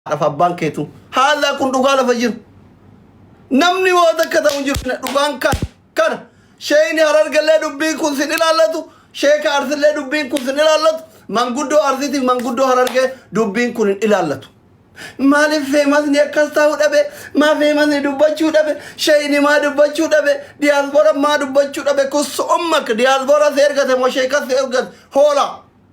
haadhaaf abbaan keetu haallaa kun dhugaa lafa jiru namni waa takka ta'u hin jiru Kana dhugaan kan kana sheeyni harargallee dubbiin kun sin ilaallatu sheeka arsillee dubbiin kun sin ilaallatu manguddoo arsiitiif manguddoo harargee dubbiin kun hin ilaallatu maaliif feemasni akkas ta'uu dhabe maa feemasni dubbachuu dhabe sheeyni maa dubbachuu dhabe diyaasboora maa dubbachuu dhabe kun su'ummak diyaasboora si ergate moo sheekas si ergate hoolaa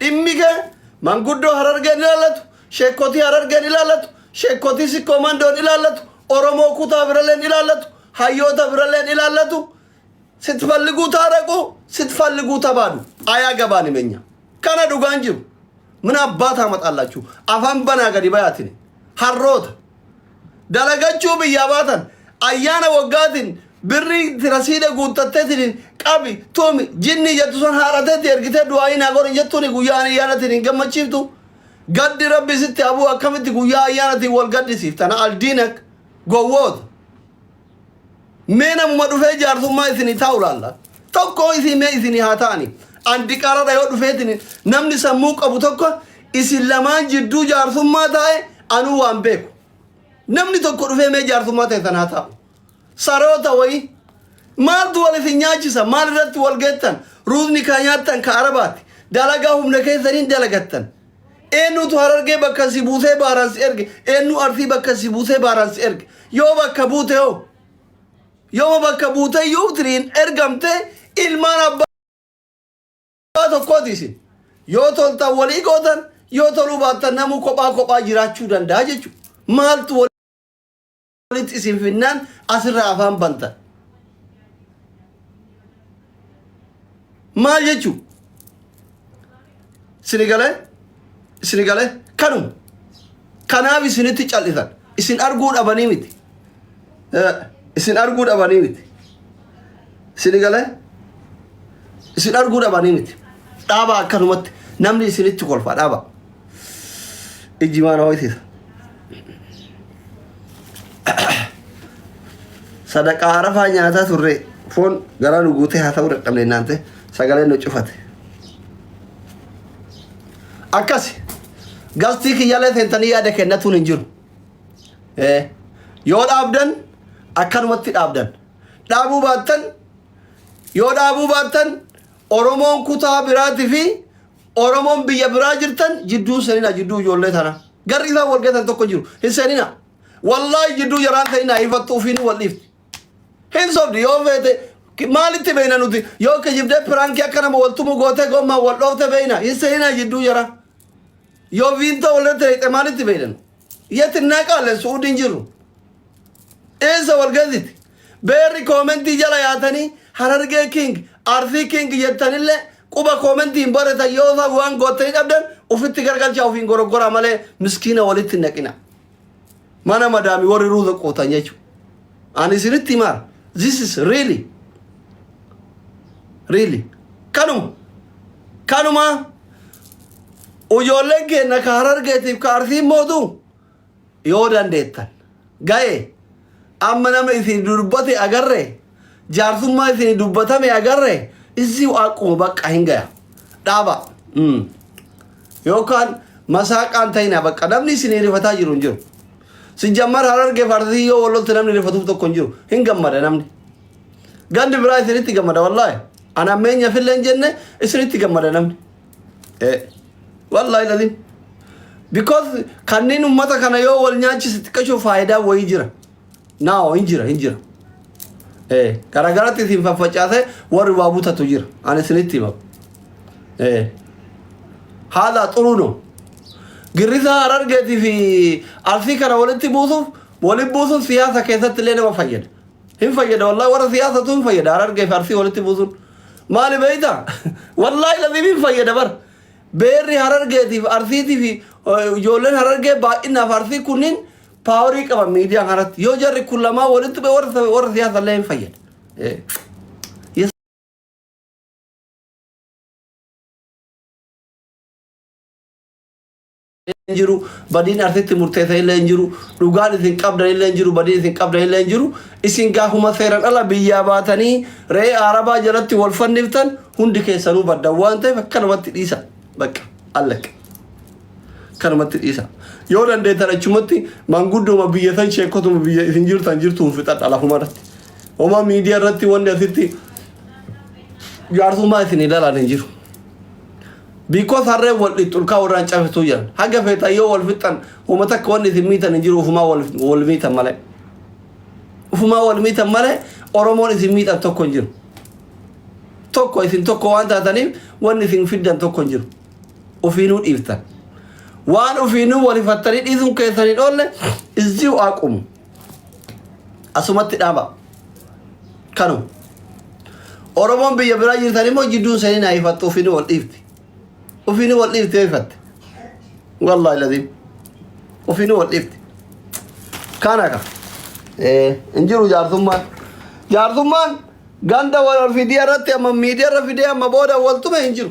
Dhimmi kee manguddoo harargeen ilaallatu, sheekkotii harargeen ilaallatu, sheekkotii sikkoo mandoon ilaallatu, Oromoo kutaa biralleen ilaallatu, hayyoota biralleen ilaallatu sitfalliguu taaraquu sitfalliguu tabaadu ayaa gabaan himenya. Kana dhugaan jiru. Mina abbaa taamaxaallachuu afaan banaa gadi bayaatini. Harroota. dalagachuu biyyaa baatan ayyaana waggaatiin birrii itti rasiida guuttatteetiin qabi tumi jinnii jettu san haadhateetti ergitee du'aayii naa godhi jettuuni guyyaa ani ayyaanatiin hin gammachiiftu gaddi rabbi sitti abuu akkamitti guyyaa ayyaanatiin wal gaddisiifta na aldiinak gowwoota mee namuma dhufee jaarsummaa isinii taa'u laalla tokkoo isii mee isinii haa ta'ani an diqaaladha yoo dhufeetini namni sammuu qabu tokko isin lamaan jidduu jaarsummaa taa'e anuu waan beeku namni tokko dhufee mee jaarsummaa ta'e sanaa taa'u saroota wayii maaltu wal isin nyaachisa maal irratti wal geettan ruuzni kaa nyaattan ka arabaati dalagaa humna keessaniin dalagattan Eenyutu harargee bakka si buusee baaraan si erge? Eenyu arsii bakka si buusee baaraan si erge? Yoo bakka buute hoo? Yoo bakka buute iyyuu tiriin ergamte ilmaan abbaa Kophaa tokkooti isin. Yoo toltan walii gootan, yoo toluu baattan namuu kophaa kophaa jiraachuu danda'a jechuudha. Maaltu wal walitti isin finnaan asirraa afaan bantan. Maal jechuu? Isini galee? Isini galee? Kanuma. Kanaaf isinitti cal'isan. Isin arguu dhabanii miti. Eh, Isin arguu dhabanii miti. Isini galee? Isin arguu dhabanii miti. Dhaabaa akkanumatti namni isinitti kolfa dhaabaa. Iji maa na ho'isiisa? Sadaqaa harafaa nyaataa turre foon garaa nu guutee haa ta'uu dadhabne naante sagalee nu cufate. Akkasi gastii kiyyalee seentanii yaada kennatuun hin jiru. Eh, Yoo dhaabdan akkanumatti dhaabdan. Dhaabuu baattan yoo dhaabuu baattan Oromoon kutaa biraatii fi Oromoon biyya biraa jirtan jidduu seenina jidduu ijoollee tana. Garri isaan wal gatan tokko jiru. Hin seenina. Wallaahi jidduu jaraan seenina hifattu ofiin wal dhiifti. Hin sobdi yoo feete ki- maalitti beeyna nuti yoo kijibdee piraankii akka nama wal tumu gootee gommaan wal dhoofte beeyna hin seenina jidduu jaraa. Yoo viintoo walirratti reeqxe maalitti beeyna nu? Yet innaa qaale su'uudi hin jirru. Eessa wal gaziti? Beerri koomentii jala yaatanii harargee king arsii king jettanillee quba koomentii hin baratan yoo ta'u waan goottanii dhabdan ufitti gargalchaa ofiin goroggoraa malee miskiina walitti hin naqina. Mana madaami warri ruuza quutan jechuudha. Ani isinitti himaa this is really really kanuma kanuma ujoolleen keenna ka harargeetiif ka arsiin mootu yoo dandeettan ga'e amma nama isin dubbate agarre jaarsummaa isin dubbatame agarre isii waaquma bakka hin gaya dhaaba yookaan masaaqaan ta'ina bakka namni isin hirifataa jiru hin jiru Sijjammar harargeef arsii yoo walotti namni rifatuuf tokko hin jiru. Hin gammada namni. Gandi biraa isinitti gammada wallaahi. An ammeenya fillee hin jenne isinitti gammada namni. Eh, Wallaahi laziim. Because kanneen ummata kana yoo wal nyaachise xiqqashoo faayidaa wayii jira. Naawo hin jira hin jira. Eh, garagaratti isin faffacaasee warri waa butatu jira. Ani isinitti hima. Eh, haadha xuruuno. Girrisaa harargeetii fi arsii kana walitti buusuuf walitti buusuun siyaasa keessatti illee nama fayyada. Hin fayyada wallahi warra siyaasatu hin fayyada harargee fi arsii walitti buusuun. Maali beeyta? Wallahi laziif hin fayyada bar. Beerri harargeetii fi arsiitii fi eh, ijoolleen harargee baay'inaaf arsii kunniin Paawarii qaba miidiyaa kanarratti. Yoo jarri kun lamaa walitti bu'e warra sa- warra siyaasa illee hin fayyada. Eh. Yes. hin jiru badiin arsitti murteessa illee hin jiru dhugaan isin qabdan illee hin jiru badiin isin qabdan illee hin jiru isin gaafuma seeran ala biyyaa baatanii re'ee arabaa jalatti wal fanniftan hundi keessanuu baddan waan ta'eef akkanumatti dhiisa bakka allakka. kanumatti dhiisa yoo dandeettan achumatti maanguddooma biyya san sheekotuma biyya isin jirtan jirtuun fixadha lafuma irratti homaa miidiyaa irratti wanni asitti jaarsummaa isin ilaalan hin jiru biikoo sarree wal dhixxulkaa warraan cabsituu jiran haga feetan yoo wal fixxan homa takka wanni isin miitan hin jiru ufumaa wal wal miitan malee ufumaa wal miitan malee oromoon isin miidhan tokko hin jiru tokko isin tokko waan taataniif wanni isin fiddan tokko hin jiru Ufiinuu dhiiftan. Waan ufiinuu wal hifattanii dhiisuun keessan hin oolle izziu aqumu. Asumatti dhaaba. Kanu. Oromoon biyya biraa jirtan immoo jidduun seenin haa hifattu ufiinuu wal dhiifti. Ufiinuu wal dhiifti yoo hifatte. Wallaahi laziim. Ufiinuu wal dhiifti. Kana ka. Eh, hin jiru jaarsummaan. Jaarsummaan ganda wal fidii irratti amma miidiyaa irra fidee amma booda wal tume hin jiru.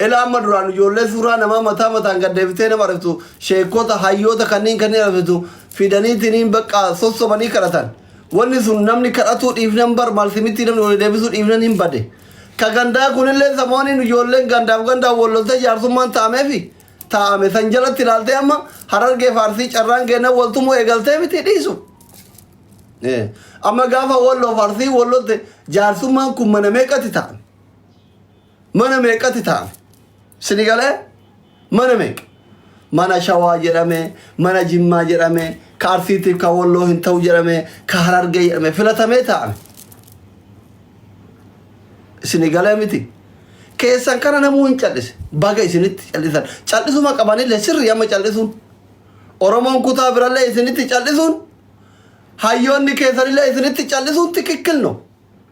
Ilaa amma duraan ijoollee suuraa namaa mataa mataan gad deebitee nama argtu sheekota hayyoota kanneen kanneen argtu fidaniitiniin bakka sossobanii kadhatan. Wanni sun namni kadhatuu dhiifnan bar malsimitti namni wal deebisuu dhiifnan hin bade. Ka gandaa kunillee samooniin ijoolleen gandaaf gandaan wal loltee jaarsummaan taa'ameefi taa'ame san jalatti ilaaltee amma harargee faarsii carraan keennan wal tumuu eegaltee miti dhiisu. Eh, Amma gaafa walloo faarsii wal lolte jaarsummaan kun mana meeqatti taa'an? mana meeqatti taa'ame sini galee mana meeqa mana shawaa jedhame mana jimmaa jedhame ka arsiitiif ka walloo hin ta'u jedhame ka harargee jedhame filatamee taa'ame sini galee miti keessan kana namuu hin callise baga isinitti callisan callisuma qabanillee sirri amma callisuun oromoon kutaa birallee isinitti callisuun hayyoonni keessanillee isinitti callisuun tikikkil no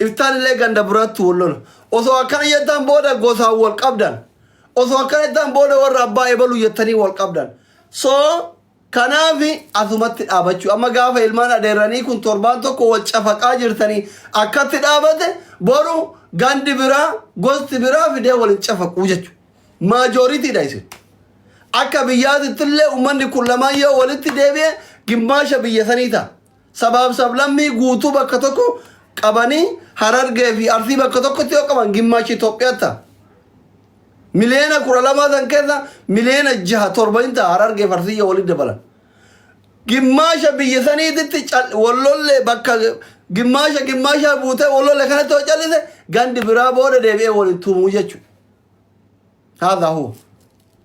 Iftaanillee ganda biraatti wal lola. Osoo akkana jettan booda gosaan wal qabdan. Osoo akkana jettan booda warra abbaa ebaluu jettanii wal qabdan. So kanaaf asumatti dhaabachuu. Amma gaafa ilmaan adeerranii kun torbaan tokko wal cafaqaa jirtanii akkatti dhaabate boru gandi biraa gosti biraa fidee wal hin cafaquu jechuudha. Maajooritiidha isin. Akka biyyaatittillee uummanni kun lamaan yoo walitti deebi'e gimmaasha biyya sanii ta'a. Sabaaf sablammii guutuu bakka tokko qabanii Harargee fi Arsii bakka tokkotti yoo qaban gimmaachi Itoophiyaa ta'a. Miliyoona kudha lamaa san keessa miliyoona jaha torba hin ta'a Harargee fi Arsii yoo walitti dabalan. Gimmaasha biyya saniititti cal- wallollee bakka gimmaasha gimmaashaa buutee wallollee kanatti yoo callise gandi biraa booda deebi'ee walitti tumuu jechuudha. Haadha hoo.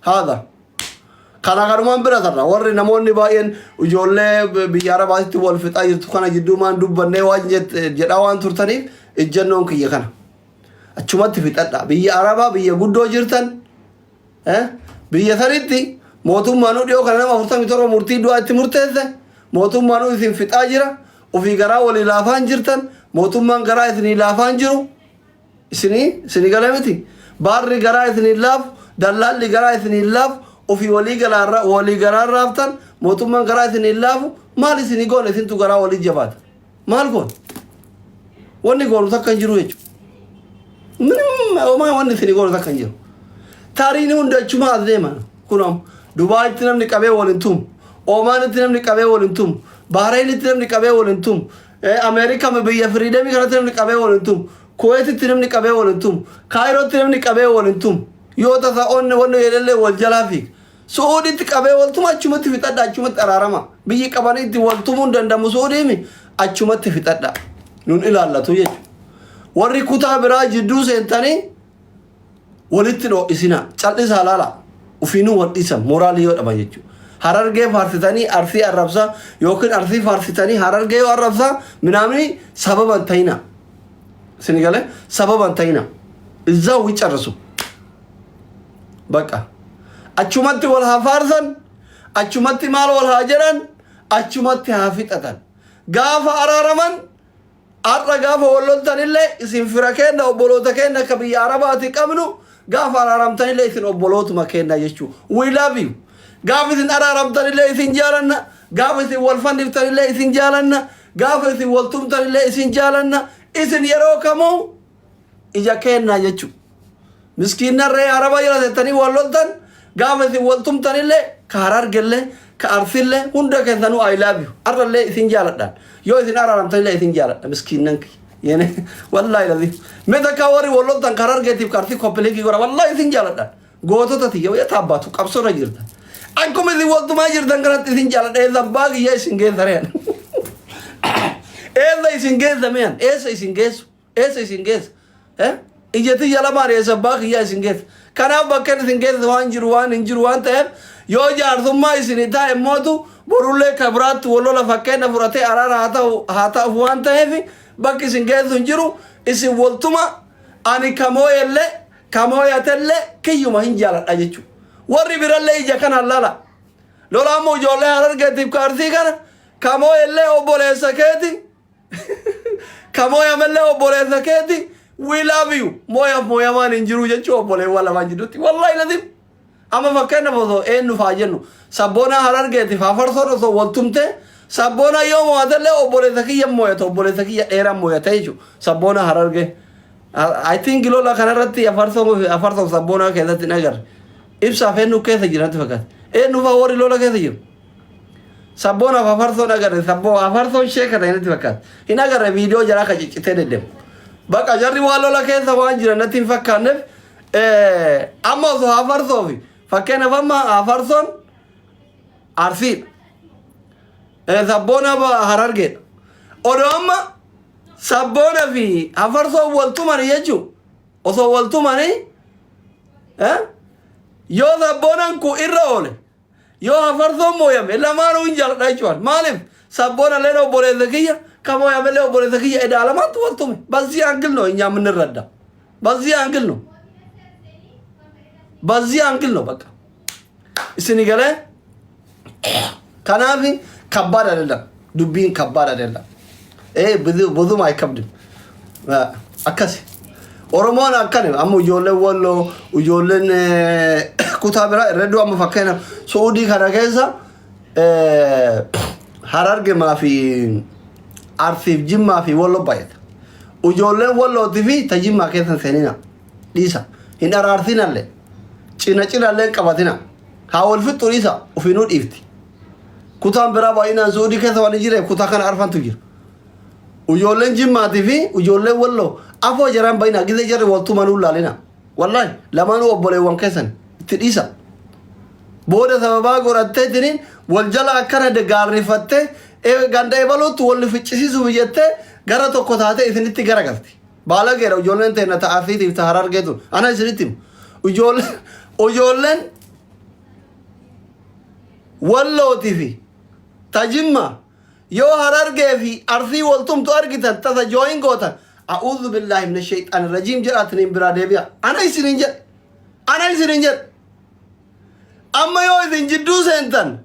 haadha kana kanumaan bira tarra warri namoonni baay'een ijoollee biyya arabaatitti wal fixaa jirtu kana jidduu maan dubbannee waan jedhaa waan turtaniif ijjannoon kiyya kana achumatti fixadha biyya arabaa biyya guddoo jirtan biyya sanitti mootummaan dhiyoo kana nama 47 murtii du'aa itti murteesse mootummaan isin fixaa jira ofii garaa walii laafaan jirtan mootummaan garaa isinii laafaan jiru Isinii isinii galee miti? Baarri garaa isinii hin laafu, dallaalli garaa isinii hin laafu, ofii walii galaa walii garaa hin raaftan, mootummaan garaa isinii hin laafu, maal isinii goona isintu garaa walii jabaata. Maal goona? Wanni goonu takka hin jiru jechuudha. Minim homaa wanni isinii goonu takka hin jiru. Taariin hundi achumaa as deema. Kun amma Dubaayitti namni qabee wal hin tumu. Oomaanitti namni qabee wal hin tumu. Baahreenitti namni qabee wal hin tumu. Eh, America me biyya freedom kanatti namni qabee wal hin tumu. Kuwaititti namni qabee wal hin tumu. Kaayirootti namni qabee wal hin tumu. Yoo tasa onne wanni jedhallee wal jalaa fiiga. Su'uuditti qabee wal tuma achumatti fixadha achumatti araarama. Biyyi qabanii itti wal tumuu hin danda'amu su'uudiimi achumatti fixadha. Nun ilaallatu jechuudha. Warri kutaa biraa jidduu seentanii Walitti hin ho'isinaa. Cal'isaa laalaa. Ufiinuu wal dhiisan. Moraalii yoo dhaban jechuudha. Harargee faarsitanii Arsii arrabsaa yookiin Arsii faarsitanii Harargee yoo arrabsaa minaamini sababa hin ta'inaa. Isin galee sababa hin ta'inaa. Izzaa wii carrasu. Baqa. Achumatti wal haa faarsan. Achumatti maal wal haa jedhan. Achumatti haa fixatan. Gaafa araaraman Har'a gaafa wal loltanillee isin fira keenna obboloota keenna ka biyya Arabaati qabnu gaafa araaramtanillee isin obbolootuma keenna jechuu. We love you. Gaafa isin araaramtanillee isin jaalanna, gaafa isin wal fanniftanillee isin jaalanna, gaafa isin wal tumtanillee isin jaalanna, isin yeroo kamuu ija keennaa jechu miskiinna ree araba jira tettanii wal loltan gaafa isin wal tumtanillee ka harargellee ka arsillee hunda keessanuu I love you arrallee isin jaaladhaan yoo isin araaramtanillee isin jaaladha miskiinnan kiyya yene wallaahi lazi mee takkaa warri wal loltan ka harargeetiif ka arsii koppileekii godha wallaahi isin jaaladhaan gootota tiyya wayya taabbaatu qabsoorra jirta akkuma isin wal tumaa jirtan kanatti isin jaaladha eessan baagiyya isin geessa rean eessa isin geessa mean eessa isin geessu Eessa isin geessa? Eh? Ija tiyya lamaan eessa abbaa kiyyaa isin geessa? Kanaaf bakkeen isin geessa waan jiru waan hin jiru waan ta'eef yoo jaarsummaa isinii taa'e mootu borullee ka biraatti wal lola fakkeenna fudhatee araara haa ta'u haa ta'uuf waan ta'eef bakki isin geessu hin jiru isin waltuma ani ka mooyellee ka mooyatellee kiyyuma hin jaaladha jechuudha. Warri birallee ija kanaan lala. Lolaan immoo ijoollee harargeetiif ka arsii kana ka mooyellee obboleessa keeti Ka mooyamellee obboleessa keeti we love you. Mooyaaf mooyamaan hin jiru jechuu obboleewwan lamaan jidduutti. Wallahi latif. Amma fakkeenyaaf osoo eenyuuf haa jennu sabboonaa harargeetiif hafarsoon osoo wal tumtee sabboonaa yoo moo'atellee obboleessa kiyya moo'ata obboleessa kiyya dheeraa moo'ata jechuudha sabboonaa harargee. I think lola kanarratti hafarsoon hafarsoon sabboonaa keessatti hin agarre. Ibsaaf eenyu keessa jira natti fakkaata. Eenyuufaa warri lola keessa jiru. Sabboon hafa farsoon agarre sabboo hafa farsoon sheeka ta'e natti fakkaata. Hin agarre viidiyoo jaraa ka ciccitee deddeemu. Baqa jarri waan lola keessa waan jiran natti hin fakkaanneef amma osoo hafa farsoo fi fakkeenyaaf amma hafa farsoon arsiidha. Sabboon hafa harargeedha. Odoo amma sabboona fi hafa farsoon wal tumani jechuun osoo wal tumanii yoo sabboonaan kun irra oole Yoo hafarsoon mooyame lamaanuu hin jaaladha jechuudha. Maaliif sabboona illee obboleessa kiyya kan mooyame illee obboleessa kiyya edaa lamaantu wal tume. Bazzii aangil noo hin yaamin irra adda. Bazzii aangil noo. Bazzii aangil noo bakka. Isini galee kanaafi kabbaad adadam. dubbiin kabbaad adeemna. Ee bozumaa hin qabdu. Akkasi. Oromoon akkani amma ijoolleen walloo ijoolleen kutaa biraa irra iddoo amma fakkeenya suudii kana keessa harargemaa fi arsiif jimmaa fi walloo baay'ata. Ijoolleen wallootii fi tajimmaa keessa seenina dhiisa hin araarsinallee cina cinallee qabatina haa wal fixxu dhiisa ofiinuu dhiifti Kutaan biraa baay'inaan Suudii keessa waan hin jireef kutaa kana arfantu jira. Ijoolleen Jimmaatii fi ijoolleen Walloo afoo jaraan baay'inaa gizee jarri waltuu manuu laalina. Wallaahi lamaanuu obboleewwan keessan itti dhiisa. Booda sababaa godhatteetiniin wal jala akkana gaarrifattee ee ganda ebaluutti wal ficcisiisuuf jettee gara tokko taatee isinitti garagalti. Baalageedha ijoolleen teenna ta'a Arsiitiif ta'a Harargeetu. Ana isinitti himu. Ijoolleen ijoolleen Wallooti fi ta Jimma Yo Harargee fi Arsii wal tumtu argitan tasa join gootan A'uuzubillahi minasheyxaani rajiim jedhaatiniin biraa deebi'a Ana isiniin jedhe Ana isiniin jedhe Amma yoo isin jidduu seentan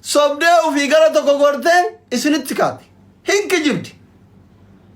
sobdee ufii gara tokko gortee isinitti kaati hin kijibdi